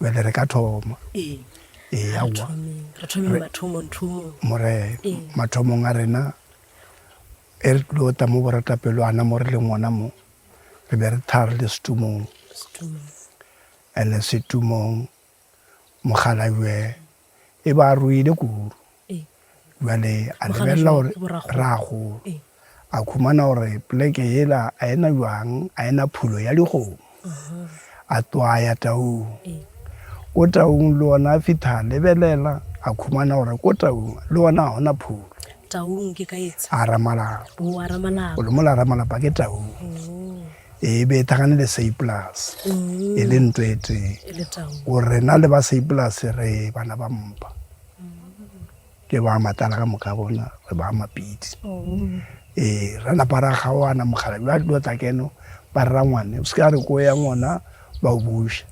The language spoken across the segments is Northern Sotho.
Bjale re ka thoma. Ee. Ee, aowa. Re thomeng mathomong, thomong. More, mathomong a rena, e re tlo ta mo boratapelo ana mo re leng ngwana mo, re be re tharo le setumong. Setumong. Ene setumong, Mokgalajwe E ba ruile kudu. Bjale a lebelela gore ragolo. A khumana gore pleke yela a ena jwang, a ena phulo ya dikgomo. A twaya taung. Ko taung le ona a fitha a lebelela, a khumana gore ko taung le ona ga ona phulo. Taung ke ka etsha? A Ramalapa. O a Ramalapa. O le mola Ramalapa ke taung. e be e thagane le seiplus mm. e le nto e tee o rena le ba seiplus re bana ba mpa ke ba matala ka moka bona re ba mapidi ee ra napa ra gaoana mogala ba tlo tla keno ba rera ngwane o se ka re ko ya ngwana ba o buša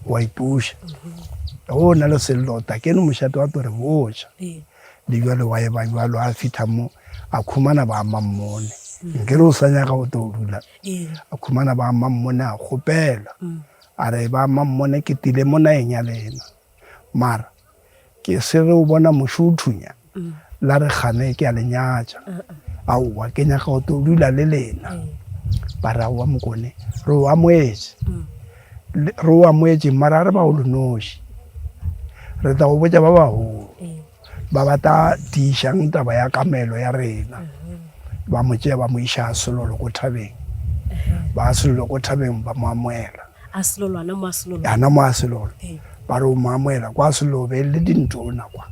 wa ipuša o na le sello ta keno mošate wa to re boša mm-hmm. Le bjalo wa eba bjalo a fihla mo a khumana ba mammone mm. nke re o sa nyaga o tlo dula mm. a khumana ba mammone a kgopela mm. a re ba mammone ke tile mo naeng ya lena mara ke se re o bona mošo o thunya mm. la re gane ke a lenyatša uh -uh. aowa ke nyaga o tlo dula le lena mm. ba re aowa mokone re o amoetše mm. Re o amogetšeng mara a re ba o lenoši re tla go botša ba bagolo ba ba tla tiišang taba ya kamelo ya rena ba mo tšea ba mo iša a selolo ko thabeng ba a selolo ko thabeng ba mo amoela ana mo a selolo ba re o mo amoela kwa selolo be le dintona kwa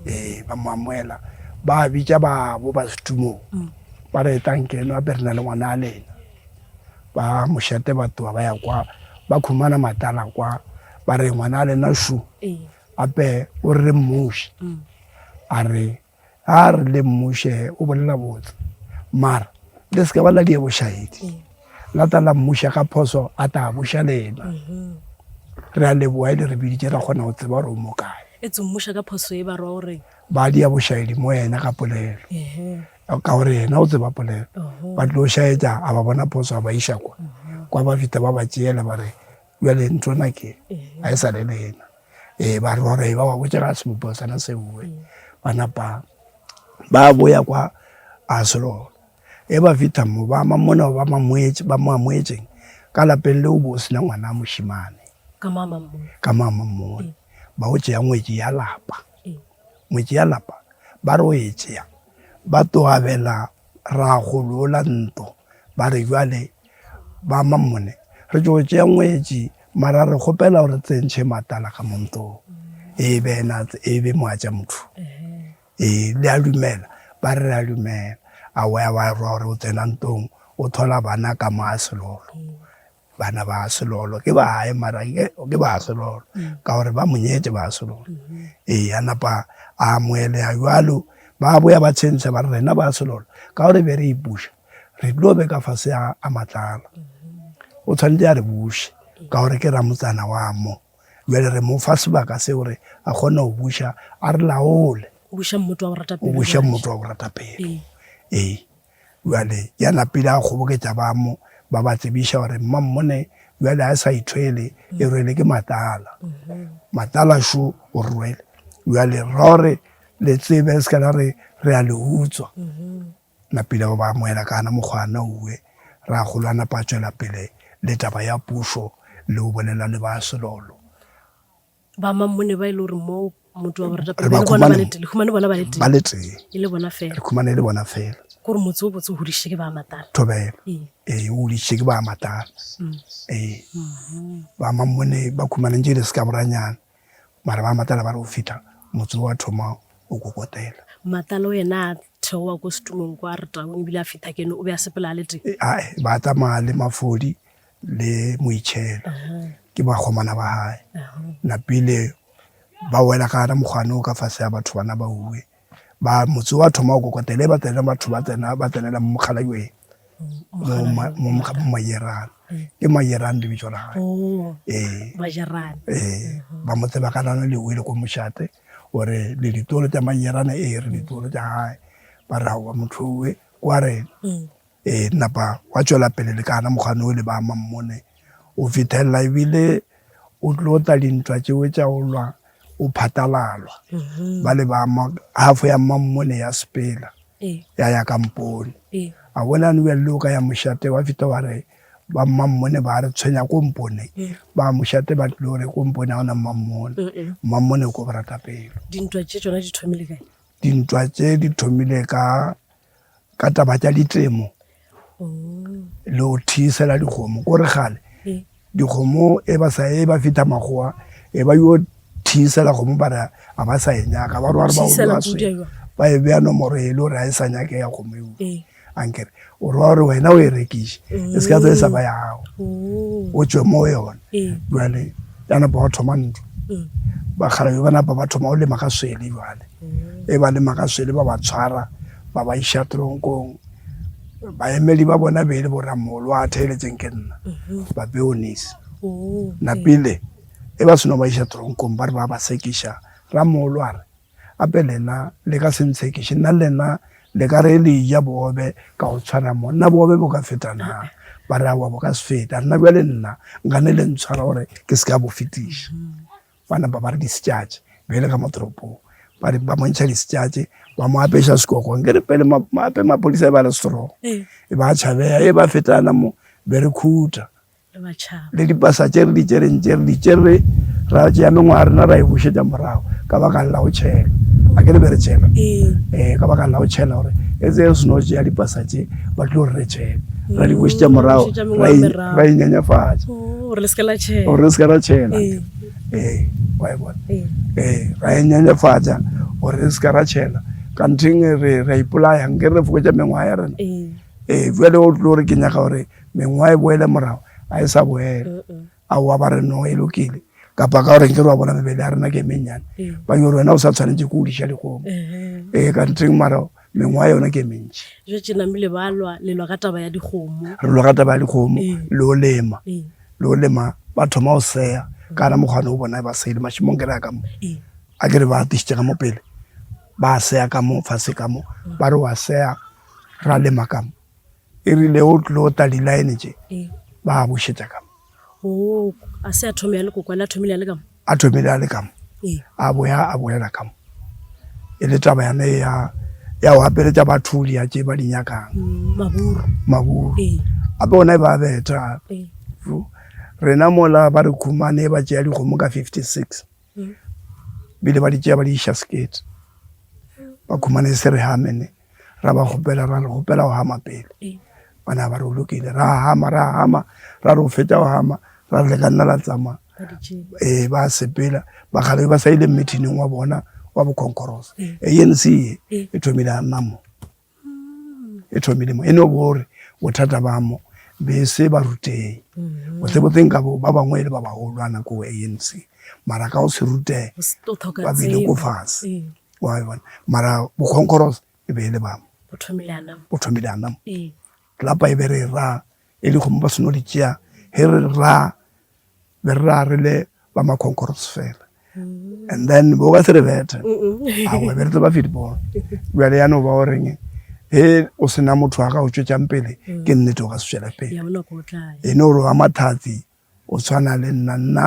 ee ba mo amoela ba bitša babo ba setumong ba re etlang ke eno a be re na le ngwana a lena Ba mošate ba tloga ba ya kwa ba khumana matala kwa ba re ngwana a lena shu gape o re mmuši mm. a re a re le mmuše o bolela botse mara le se ka ba la die bošahedi mm. la ta la mmuša ka phoso a ta buša lena mm-hmm. re a leboa e le re biditše ra kgona go tseba gore o mo kae e tse mmuša ka phoso e ba ra gore ba dia bošahedi mo ena ka polelo ka gore yena o tseba polelo ba tlo šaetša a ba bona phoso a ba iša kwa kwa ba fita ba ba tšeela ba re bjale ntho na ke a e sa le le yena ee ba re gore ba ba botša ga sebopo sana se boe ba napa ba boya kwa a selolo e ba fita mo ba ama mona ba mamoetše ba mo amoetšeng ka lapeng leo bo sena ngwana a mošimane ka mama mmone ba o tšea ngwetši ya lapa Motšealapa ba re o e tšea, ba tlo abela ragoloola ntlo, ba re bjale ba Mammone re tšo tšea ngwetši mara re kgopela o re tsentšhe matala ka mo ntlong e be ena e be moatša motho e le a dumela ba re a dumela a wa wa rwa gore o tsena ntlong o thola bana ka mo a selolo Bana ba selolo ke ba hae mara ke, ke ba selolo mm. ka gore ba mo nyetse ba selolo mm -hmm. ee a napa a amoeleya jalo ba boya ba tshentsha ba re rena ba selolo ka gore be re ipuša re tlo be ka fase a, a matlala mm -hmm. o tshwanetse a re buše ka gore ke ramotsana wa mo jale re mo fa sebaka se gore a kgone go buša a re laole o buša mmoto wa go rata pelo ee Bjale ya napile a kgoboketša bamo, ba ba tsebiša gore mmammone bjale a sa ithwele, e rwele ke matala. Matala šo o rwele. Bjale ra gore le tsebe re se ka la re re a le utswa. Napile ba ba amoela ka gana mokgwa a nauwe. Ragolo a napa a tšwela pele le taba ya pušo le go bolela le ba Selolo. ba mammone ba e le gore mo motho wa borata pele bona ba le tele khumane bona ba le tele ba le tele e le bona fela khumane e le bona fela gore motse o botse o hodiše ke ba matala thobela ee, ee o hodiše ke ba matala mm. ee mm-hmm. ba mammone ba khumaneng tse le se ka boranyana mara ba matala ba re go fitlha motse wa thoma o kokotela matala o yena a theoa ko setumong ko a re taong ebile a fitlha kene o be a sepela a le teng ee ba tsamaya le mafodi le moitšhela ke bakgomana ba gae napile ba wela ka gana mokgwane o ka fase ya batho bana ba uwe ba motse wa thoma go kokotele ba tsena batho ba tsena ba tsenela mo mokgalajweng mo mayerana ke mayerane le bitso la gae oh, ee ee ba mo tseba ka lana le uwe le ko mošate gore le ditolo tsa mayerane ee re ditolo tsa gae ba raowa motho uwe kwa rena mm. E napa wa tšwela pele le ka ana mokgwane o le ba mammone o fithelela ebile o tlo tla dintwa tšeo tša go lwa o phatalalwa mm-hmm. ba le ba hafo ya mammone ya sepela e. ya ya kampone e. a bona ne bjale o ka ya mošate wa fita wa re ba mammone ba re tshwenya ko mpone e. ba mošate ba tlile gore ko mpone ga ona mammone mammone o ko boratapelo dintwa tše di thomile ka ka taba tša ditemo oh. le go thiisela dikgomo ko re gale eh. dikgomo e ba sa e ba feta magoa e ba yo thiisela kgomo ba re a ba sa e nyaka ba rware baoaswe ba e beya nomoro e le gore ga e sa nyake ya kgomo eo eh. ankere o rwa gore wena o e rekiše e se ka tso e sa ba ya gago oh. o tswe mo yone eh. jale ya napa wa thoma ntlo mm. bakgalabe ba napa ba thoma o lema ka swele jale e ba le makaswele ba ba tshwara ba ba iša tronkong baemeli ba bona be e le boramolo a theeletseng ke nna mhm. ba beonis oh, napile e ba seno ba iša tronkong ba re ba ba sekiša ramolo a re ape lena le ka se ntshekiše nna lena le ka re le ja boobe ka go tshwana mo nna boobe bo ka feta na ba re awa bo ka se feta rena bjale nna nka ne le ntshwara gore ke se ka bo fetiša mm-hmm. Ba napa ba re di setšatše bjale ka mo toropong ba re ba montšha di setšatše ba mo apeša sekogo nke re pele mape mapolisa e ba le strong ee. e ba tšhabeya e ba fetana mo be re khuta le dipasa tše re di tšereng tše re di tšere ra tšea mengwaga rena ra e bušetša morago ka baka la go tšhelwa a ke le be re tšhelwa ee. ee ka baka la go tšhelwa gore e tse re seno tšea dipasa tše ba tlo re re tšhele ra di bušetša morago ra inyenyefatša gore le seke la tšhela gore le seke la tšhela ee ee wa e bona ee ee ra e nyenyefatša gore re seke ra tšhela kantheng re ra ipolaya nke re fokotša mengwaga ya rena ee ee jale o tlo gore ke nyaka gore mengwaga e boele morago ga e sa boela a wa ba re no e lokile kapa ka gore nke re wa bona mebele ya rena ke e mennyane ba yo wena o sa tshwanetse ke o diša dikgomo ee kantheng mara mengwa yona ke e mentši jo tše name le balwa le lwa ka taba ya dikgomo re lwa ka taba ya dikgomo le o lema le o lema ba thoma go seya ka na mokgwane o bona ba sele mašimong ke re ya ka mo a ke re ba atešitše ka mo pele ba seya ka mo fase ka mo ba re wa seya ra lema ka mo e rile o tlo ta dilaene tše ba bušetša ka mo a se a thome ya lekokwane a thomile ya le ka mo a thomile a le kamo ee. a boya a boela kamo e le taba yane ya ya go apeletša batho dia tše ba di nyakang mm, maburu maburu ee. ape ona e ba beta ee. rena mola ba re khumane ba tšea dikgomo ka 56 mm. bile ba di tšea ba di iša sekete ba khumane se re hamene ra ba kgopela ra re kgopela go hama pele bana ba re o lokile ra hama ra hama ra re o feta go hama ra re le ka nna la tsamaya ee ba sepela ba kgale ba sa ile meetingeng wa bona wa boconcoros anc e e thomile a nna mo e thomile mo e ne o bore bothata ba mo be se ba ruteng mm-hmm. botsebotseng ka bo ba bangwe e le ba bagolwana ko anc mara ka go se rutege ba bile ko fatshe wa e bona mara bokgonkgoros e be e le bamo o thomile a nama o thomile a nama ee lapa e be re ra e le kgomo ba seno di tšea he re ra be re ra re le ba makhonkgoros fela mm. and then bo ka se re bethe a go be re tseba football jale ya no ba o reng he o sena motho wa ga o tšwetšang pele mm. ke nnete o ka se tšwela pele e ne o re wa mathatsi o tshwana le nna nna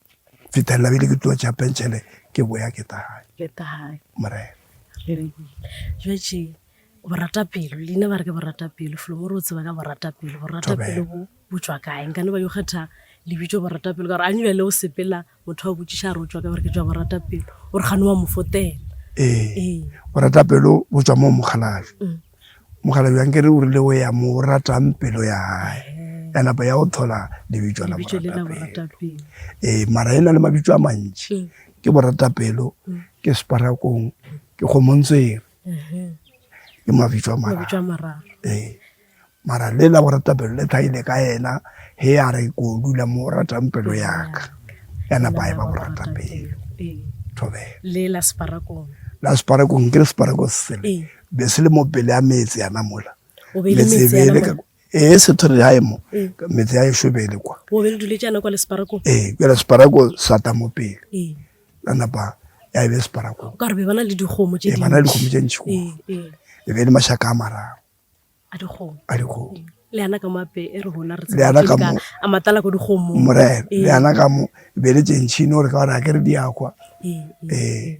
fetelela bile ke tlo tša pentšhele ke boya ke tahae morena jatše boratapelo leina ba re ke boratapelo folomo re o tseba ka boratapelo boratapelo bo botswa kae nkane ba yo kgetha lebitso boratapelo ka gore a nyebele o sepela motho wa botsiša a re o tswa ka gore ke tswa boratapelo o re gane wa mofotela ee boratapelo botswa mo mokgalajwe mm. Mokgalabje a nkere o rile o ya mo ratang pelo ya gae, ya napa ya go thola lebitso la moratapelo. Ee, mara e na le mabitso a mantši, ke boratapelo, ke separakong, ke kgomontswere, ke mabitso a mararo. Ee, mara le la boratapelo le tlhagile ka ena ge a re ko dula mo o ratang pelo ya ka, ya napa a e ba boratapelo. Thobela. La separakong nkere separako se sele, be se le mo pele a metse yana mola metsebele ka ee sethore ya emo ee. metse ya eshobele kwa o be le dule jana kwa le sparako ee kwa le sparako sata mo pele ee la napa ya be sparako ka re be bana le dikgomo tse ee, bana le dikgomo tse ntši kwa ee, ee. e be le mashaka a mararo a dikgomo a dikgomo le yana ka mape e re rona re le yana ka mo a matala go dikgomo morena le yana ka mo be le tšentšhine gore ka gore a ke re di ya kwa ee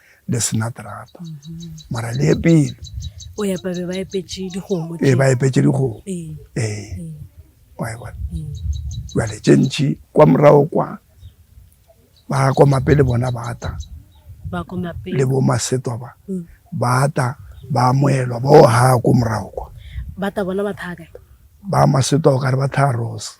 le sena terata mara le epile o ya pabe ba epetše dikgomo e ba epetše dikgomo ee wa e bona jale tše ntši kwa morago kwa ba komape le bona ba ta le bo masetwa ba mm. ba ta ba amoelwa bo ha ko morago kwa ba ta bona ba thaka ba masetwa o kare ba tha rose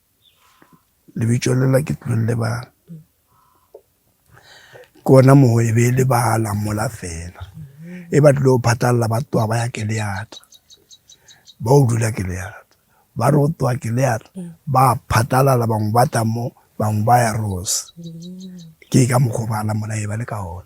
lebitšo lela ke tlong lebala ke ona moo e be e lebala mola fela e ba tlile go phatlalela ba tloga ba ya ke leata ba o dula ke leata ba re go tloga ke leata ba phatlalala bangwe ba tla mo bangwe ba ya rose ke ka mokgwa o ba lamona e ba le ka ona.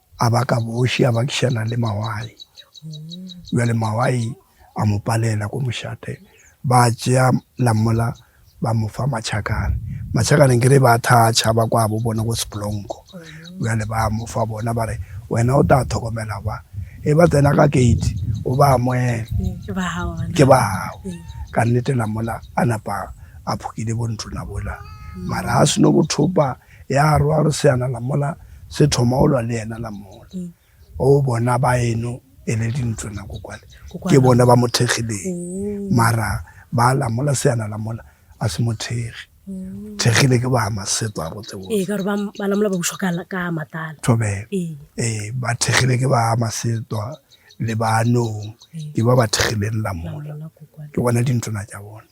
a baka boši a bakišana le mawai bjale mawai a mo palela ko mošate ba tšea lamola ba mo fa matšhakane matšhakane kere ba thatšha ba kwa bo bona ko seplonko bjale ba mo fa bona ba re wena o tla tlhokomela ba e ba tsena ka gate o ba amoele ke ba gago ka nnete lamola a napa a phokile bontona bola mara a seno bothopa Ya rwa gore seana la mola se thoma go lwa le yena la mola. O bona ba eno e le dintlo nako kwale. Ke bona ba mo thekgileng. Mara ba la mola seana la mola a se mo thekgi. Thekgile ke ba maseto a botse botse. Ee, ka gore ba la mola ba bušwa ka ka matala. Thobela. Ee, ba thekgile ke ba maseto le ba nong. Ke ba ba thekgileng la mola. Ke bona dintlona tša bona.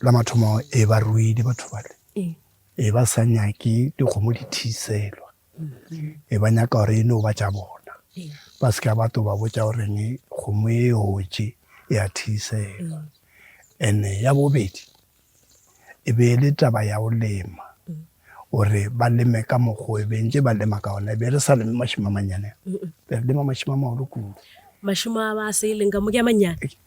la mathomo e ba ruile batho bale e ba sa nyake dikgomo di thiselwa e ba nyaka gore e no ba tša bona ba se ka ba to ba botša goreng kgomo e otše e a thiselwa ene ya bobedi e be e le taba ya go lema gore ba leme ka mokgwa e bentse ba lema ka ona e be re sa leme mašimo a mannyane be re lema mašimo a magolo kudu mašimo a ba se e leng ka mo ke a mannyane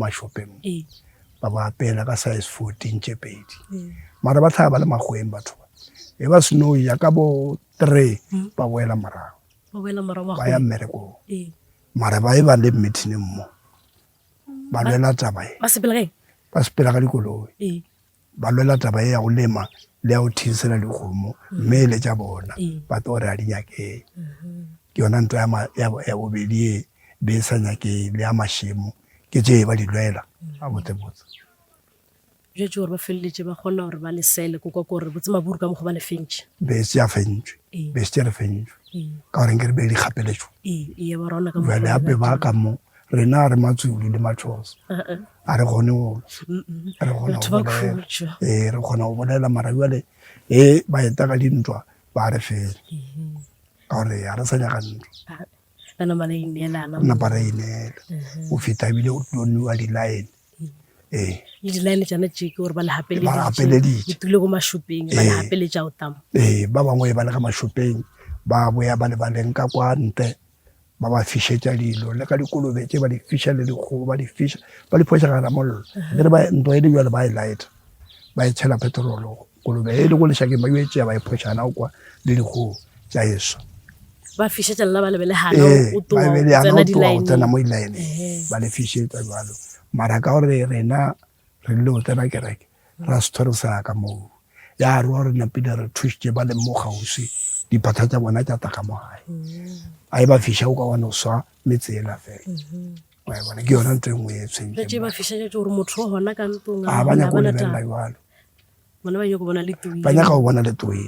mašopeng ba ba apela ka size fourteen tše pedi mara ba tlhaga ba le magweng batho ba e ba snow ya ka bo three ba boela morago ba ya mmerekong mara ba e ba le mmetineng mo ba lwela taba e ba sepela ka dikoloi ba lwela taba e ya go lema le ya go thinsela dikgomo mme e le tša bona ba tlo gore a di nyakee ke yona ntwa ya bobedi e be e sa nyakee le ya mašemo ke tše ba di lwela a botsebotse jo tše gore ba feleletše ba kgona gore ba lesele ko kwa ko gore botse maburu ka mokgwa ba le fentše be se ya fentšwe be se tše re fentšwe ka goreng ke re be di kgapeletšo jale gape ba ka mo rena re matswili le matšhosa a re kgone go re kgona go bolela ee re kgona go bolela mara jale e ba eta ka dintwa ba re fela ka gore ga re sa nyaka ntwa napa ra ineela go feta ebile o tlilo newa di-line ee le di-line tsone tseke gore ba le gapeleditšetule ko mashopeng ba le gapeletša o tamo ee ba bangwe ba le ga mashopeng ba boya ba le baleng ka kwa ntle ba ba fišetša dilo le ka dikolobe tše ba di fiša le dikgogo ba di fiša ba di phoša gana mollo le re ba ntlo e le jalo ba e lighter ba e tshela petrolo kolobe e le go lešakeng ba yo e tšea ba e phoša gana o kwa le dikgogo tša eso ba fišetša lela ba lebele gana ee, o toa o tsena mo dilaeneng ba le fišetša jalo mara ka gore rena re rile go tsena kereke ra se thore sa ka moo ya re wa re napile re thušitše ba leng mo kgauswi diphatha tša bona tša taka mo gae mm-hmm. a e ba fiša o ka wa no swa metse ela fela mm-hmm. a bona ke yona ntho e nngwe e tshwentseng ba nyaka go lebelela jalo ba nyaka go bona letoe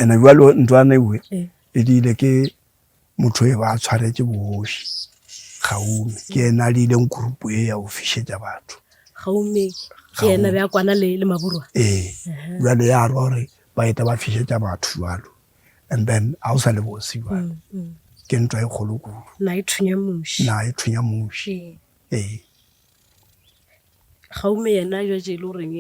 ene jalo ntlwana ewe e diile ke motho e ba a tshwaretše bogoši gaume ke ena a diileng kurupo e ya go fišetša batho gaume ke ena be a kwana le, le maburwa ee jale ya rwa gore ba eta ba fišetša batho jalo and then ga o sa le bosi jalo mm, mm. ke ntwa e kgolo kudu na e thunya muši na e thunya muši ee gaume yena jatše e le goreng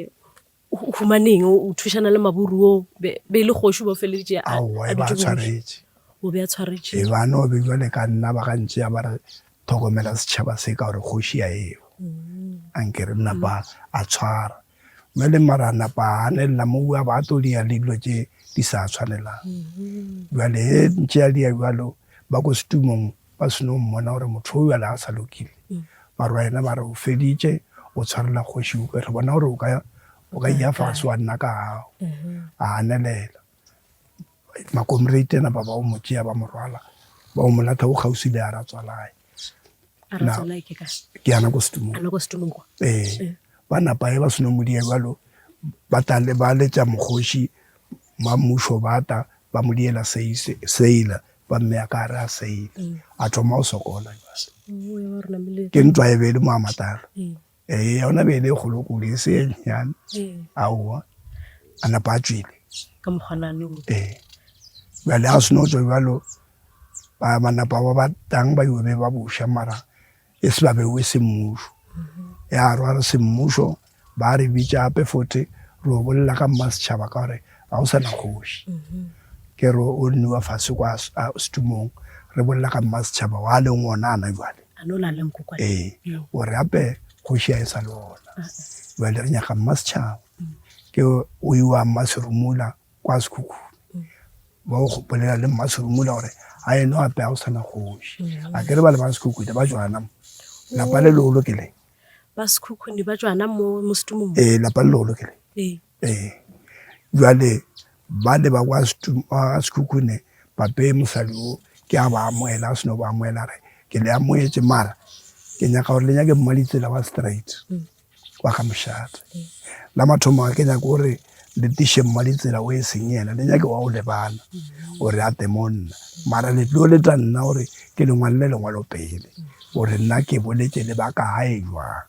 o humaneng o thušana le maburu o be e le kgoši o ba feleditše a e ba tshwaretše o be a tshwaretše e bane o be jwale ka nna ba gantši ya ba re tlhokomela setšhaba se ka gore kgoši ya eo mm. a nke re napa a tshwara jwale mara napa a ganelela mo bua ba tlo dia le dilo tše di sa tshwanelang mm-hmm. jwale e ntše ya dia jwalo ba ko setumong ba seno mmona gore motho o yale a sa lokile barwaena ba re o feditše o tshwarela kgoši upe re bona gore o ka o ka iya fase wa nna ka gago a anelela makomrate ena ba ba o motšea ba morwala ba o molatha o kgausi le a ratswalae ke yana ko setumong ee ba napae ba seno modia jalo ba tale ba letša mokgoši ba mmušo bata ba mo diela seila ba mme ya ka a re a seile mm. a thoma go sokola oh, ke ntwa e be e le moamatalo mm. ee yona be e le kgolo kudu e se enyane mm. aowa a napa a tswile ee bjale a seno tswa bjalo ba manapa ba ba tang ba yobe ba boša mara e se ba bewe semmušo ya rwa re semmušo ba re bitša gape fote re o bolela ka mma setšhaba ka gore ga o sa na kgoši ke re o nniwa fase kwa setumong re bolela ka mma setšhaba wa leng ona ana jale ee o re gape kgoši a e sa le ona jale re nyaka mma setšhaba ke o iwa mma serumula kwa sekhukhune ba o gopolela le mmaserumula gore a eno ape a o sana kgoši a kere ba le ba sekhukhune ba jwana mo lapa le lolo ke le ba sekhukhune ba jwana mo mostumong ee lapa le lolo ke le ee ee jwale ba le ba kwa sekhukhune pape mosadi o ke a ba amoela a seno ba amoela re ke le amoetse mara ke nyaka gore le nyake mmalitsela wa straight mm. wa ka mošate la mathomo ga ke nyaka gore le tiše mma ditsela o e seng yena le nyake wa o lebana gore a te mo nna mara le tlo le tla nna gore ke lengwalele lengwalo pele gore nna ke boletse le ba ka gae jwang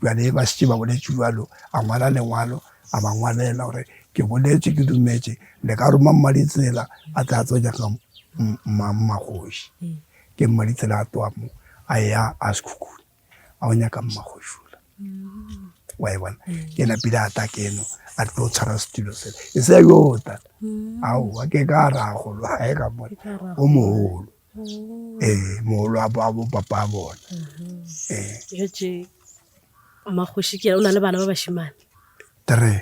jale ba setse ba boletse jalo a ngwala lengwalo a ba ngwalela gore ke boletse ke dumetse le ka roma mma ditsela a tla tso nyaka mma mmagoši ke mma ditsela a toa mo a ya a sekhukhune a o nyaka mmagošula wa e bona ke ena pele a ta keno a tlo tshwara setulo se e se yo ta ao a ke ka ra golo ga e ka bona o mogolo ee mogolo a bo papa a bona ee mmagoši ke o na le bana ba bashimane three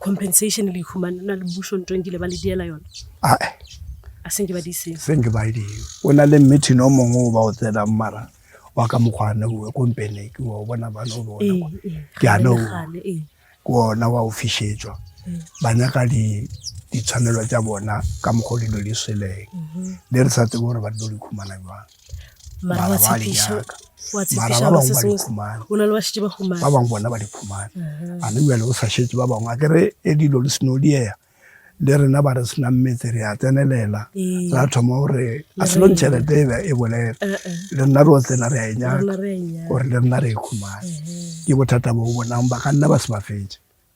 compensation le humana na le bušo ntho nkile ba le diela yona a e a se nke ba di seng se nke ba di o na le meeting o mongwe o ba o tsena mara wa ka mokgwane o kompene ke wa bona ba no bona ee, ee, ke ana o ee. ke ona wa o fishetswa ba nyaka di ditshwanelo tsa bona ka mokgwa dilo di sweleng mhm. le re sa tsebe gore ba tlo di khumana jwang bona ba di khumana a ne bjale o sa šetse ba bangwe a kere e dilo le seno diea le rena ba re senang metse re a tsenelela ra thoma gore a selong tšhelete e be e bolela le nna re o tsena re a e nyaka gore le nna re e khumane ke bothata bo bonang ba ka nna ba se ba fetse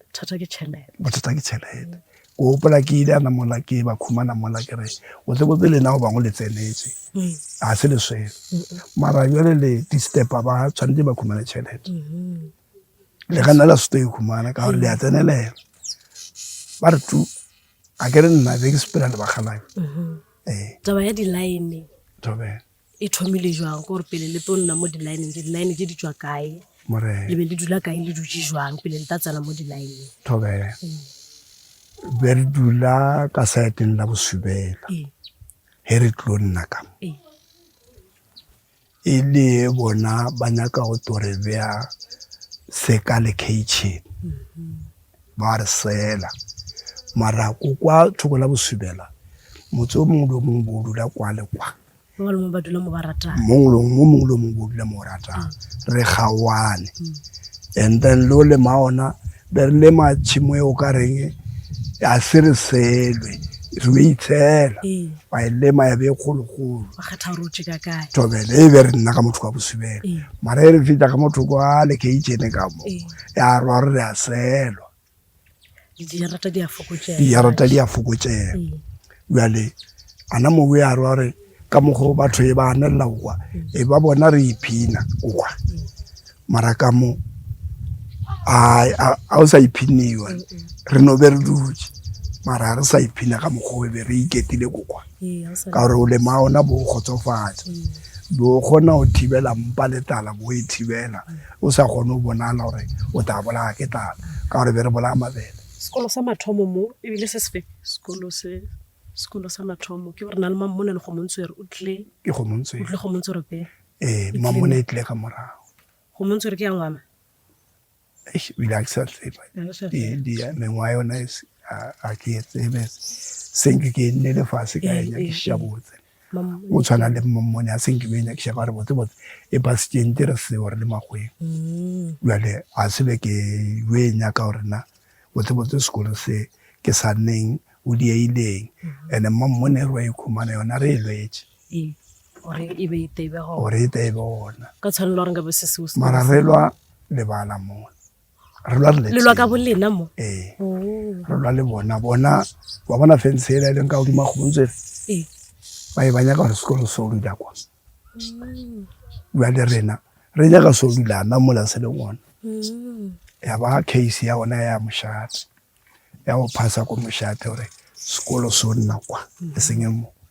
bothata ke tšhelete bothata ke tšhelete o gopola ke ile ana mola ke ba khumana mola ke re o tle botse lena go bangwe le tsenetse mm. ga se le swele mara jale le distepa ba tshwanetse ba khumane tšhelete mm-hmm. le ka nna la sete e khumana ka gore le ya mm. tsenelela ba re tu a ke re nna be ke sepela le bakgalayo mm-hmm. ee. taba ya di-line E thomile jwang gore pele le tlo nna mo di-lineng, di-line tse di tswa kae? More. Le be le dula kae le dutše jwang pele le tla tsena mo di-lineng? Thobe. Be re dula ka saeteng la bosubela. Ee. He re tlo nna ka mo. Ee. E le bona ba nyaka go tlo re bea seka le kitchen. Mm-hmm. Ba re sela. Mara ko kwa thoko la bosubela motse o mongwe le o mongwe bo o dula kwa le kwa. mongwe le mongwe ba dula mo ba ratang mongwe le mongwe le mongwe ba dula mo ratang re gaoane and then le o lema ona be re lema tšhimo e o ka reng a se re selwe re o itshela wa e lema ya be e kgologolo tobele e be re nna ka motho ka bosubela mara e re fita ka motho kwa lekeichene ka mo ya rwa re re a selwa Dijarata di a fokotšega. Dijarata di a fokotšega. Mm. Bjale ana mobu ya re gore ka mokgo batho e ba anelela kwa mm. e ba bona re iphina kwa mm. mara ka mo a o sa iphiniwa re no be re dutse mara re sa iphina ka mokgo e be re iketile kokwa ka gore o lema ona bo kgotsofatsa bo kgona go thibela mpa le tala bo e thibela O sa kgone go bonala gore o tla bolaya ke tlala ka gore be re bolaya mabele. Sekolo sa mathomo mo e bile se sefe? Sekolo se Sekolo sa mathomo ke gore na le Mammone le Kgomontswere o tle. Ke Kgomontswere. O tle Kgomontswere pele. Ee, Mammone e tle ka morago. Kgomontswere ke ya ngwana? Eish, o ile a ke sa tseba. Mengwaga yona a ke e tsebe. Senke ke nnele fase ka enya ke šabotse. o tshwana le mmone a seng ke be nyakiša ba re botse botse e pasitšeng te re se gore le makgweng mm. jale a se be ke yo e nyaka gore na botse botse sekolo se ke sa neng o dieileng mm-hmm. ande mma mmone re wa ikhumana yona re e lwetse gore e be e tebe gona ka tshwanelo gore nka be se seo mara re lwa lebala mona re lwa re lelwa ka bolena mo ee oh. re lwa le bona bona wa bona fense e la e leng ka godimo kgontse ee ba e ba nyaka gore sekolo se o dula kwa mm. jwa le rena re nyaka se o dula na mola se le ngwana mm. ya ba case ya ona ya mošate ya go phasa ko mošate gore sekolo se o nna kwa e seng e mo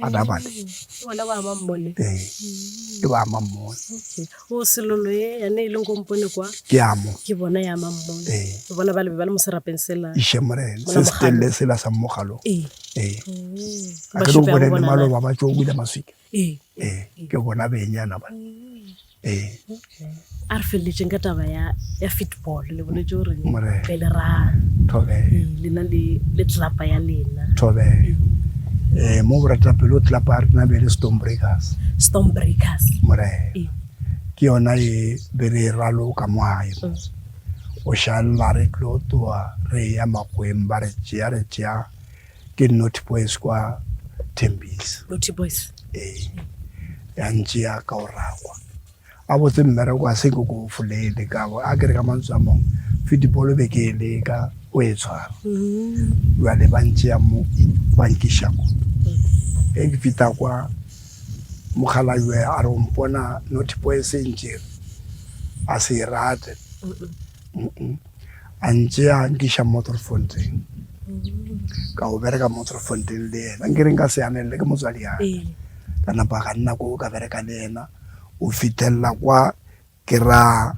a da bale bona ba ama mmone ee e ba ama mmone o selolo e yane e leng kompone kwa ke amo ke bona ya ama mmone ee ke bona ba le ba le mo serapeng sela ishe morena se se telle sela sa mmogalo ee ee ba ke go bona le maloba ba tšo o ile maswika ee ee ke bona benyana ba mm. ee a re feleletšeng ka taba ya ya football le boletse gore pele ra thobe lena le le tlelapa ya lena thobe eh mo borata pelo tlelapa ya rena be le storm breakers storm breakers more ke yona e be re ralo ka moae mm. o šalla re tlo toa re ya makweng ba re tšea re tšea Ke Naughty Boys kwa Tembisa. Naughty Boys? Ee. Ya ntši ya ka o rakwa. A botse mmereko a se ke ko folele ka bo a kere ka mantswe a mong fitibolo be ke e leka o e tshwara. Jale mm-hmm. ba ntši ya mo ba nkiša ko. Mm. E ke fita kwa mokgalajwe a re o mpona Naughty Boys e ntšere a se e rate. Mm-mm. a ntse a nkiša motorfonteng ka go bereka motorfonteng le ena nke re nka se yanelele ke motswadi yaka ee. ka napa ga nna ko ka bereka le ena o fithelela kwa ke ra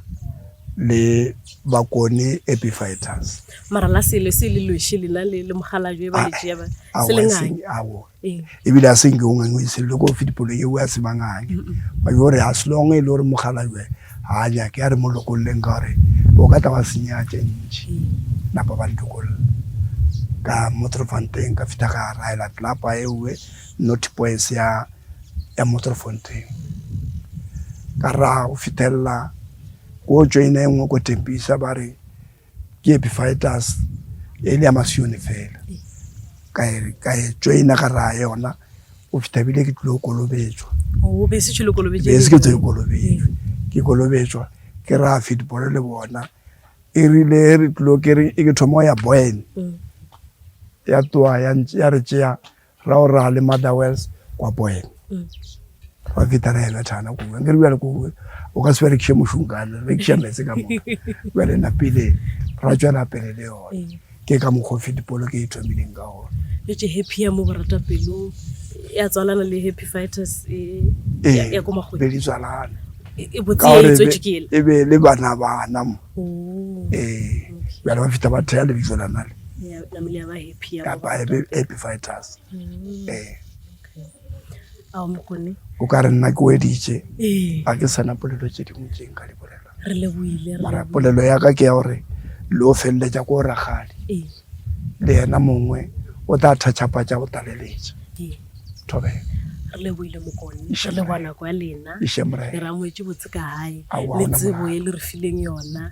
le bakone epifighters mara la sele se le lweshe lena le le mogala jo e ba le tšea ba se le ngaka e bile a senke o ngangwe se le go fe dipolo yeo a se mangane ba yo re as long e le gore mogala yo ha nya ke re mo lokolleng ka gore o ka tla wa senya tše ntši napa ba ntokolla ka motrofonteng ka fita ga raela tlapa ewe not boys ya ya motrofonteng ka ra go fitella go tšwe ene engwe go tempisa ba re Ke Epiphytus, e le ya Masione fela. Ka e, ka e joina ka raya yona, go fitha bile ke tlilo kolobetšwa. Oh, be se tšhilo kolobetšwa. Be se ke tse kolobetšwa. Ke kolobetšwa, ke raya football le bona. E rile re tlilo ke re, e ke thoma ya Boyne. Mm. Ya tloa ya, ya re tšea ra o ra le mother wells kwa poeng ra feta ra ena thana ko nke re bjale ko o ka se berekiše mošong kane re kiša metse ka moka bjale na pele ra tšwela pele le yone ke ka mokgwa o fetipolo ke e thomileng ka gona le tše happy ya mo borata pelo ya tswalana le happy fighters e ya ko magwe di tswalana e botse e tswe ke e be le bana bana mo oh. eh bjale ba feta ba thea le bitso la nale ya ya ba he kapa epiphytus mm, ee o ka re nna ke weditše ga ke sana polelo tše dingwe tše nka di bolela mara polelo ya ka ke ya gore le o feleletša ko ragadi le yena mongwe o tla thatšhapatša go taleletša thobela re leboile mokone re leboa nako ya lena e re amoetse botse ka gae le tsebo e le re fileng yona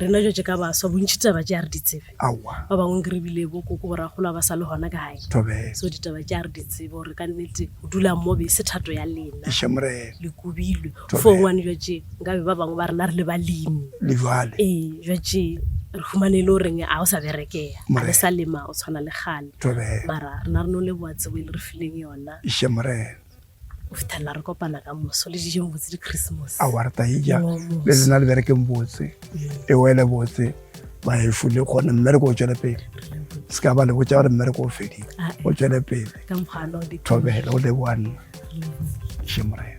rena jo tse ka baswa bontšhi tsaba tse a re ditsebe Aowa. Ba bangwe nke re bile bo koko gore a kgolo a ba sa le gona kae. Thobela. So ditaba tša re di tsebe gore ka nnete go dula mo be se thato ya lena. Eša Morena. Le kubilwe. Thobela. Fo ngwane jwa tše nka be ba bangwe ba rena re le balemi. Le jwale. Ee, jwa tše re humane e le goreng a o sa berekea. Morena. A le sa lema go tshwana le kgale. Thobela. Mara rena re no leboa tsebo e le re fileng yona. Eša Morena. Go fithelela re kopana ka moso le dijeng botse di Christmas. A wa re taija le lena le berekeng botse e wele botse ba e fule gone mme re go tšwele pele se ka ba le botsa gore mme re go fedile ah, eh. o tšwele pele ka mokgwano di thobela o le one shemorena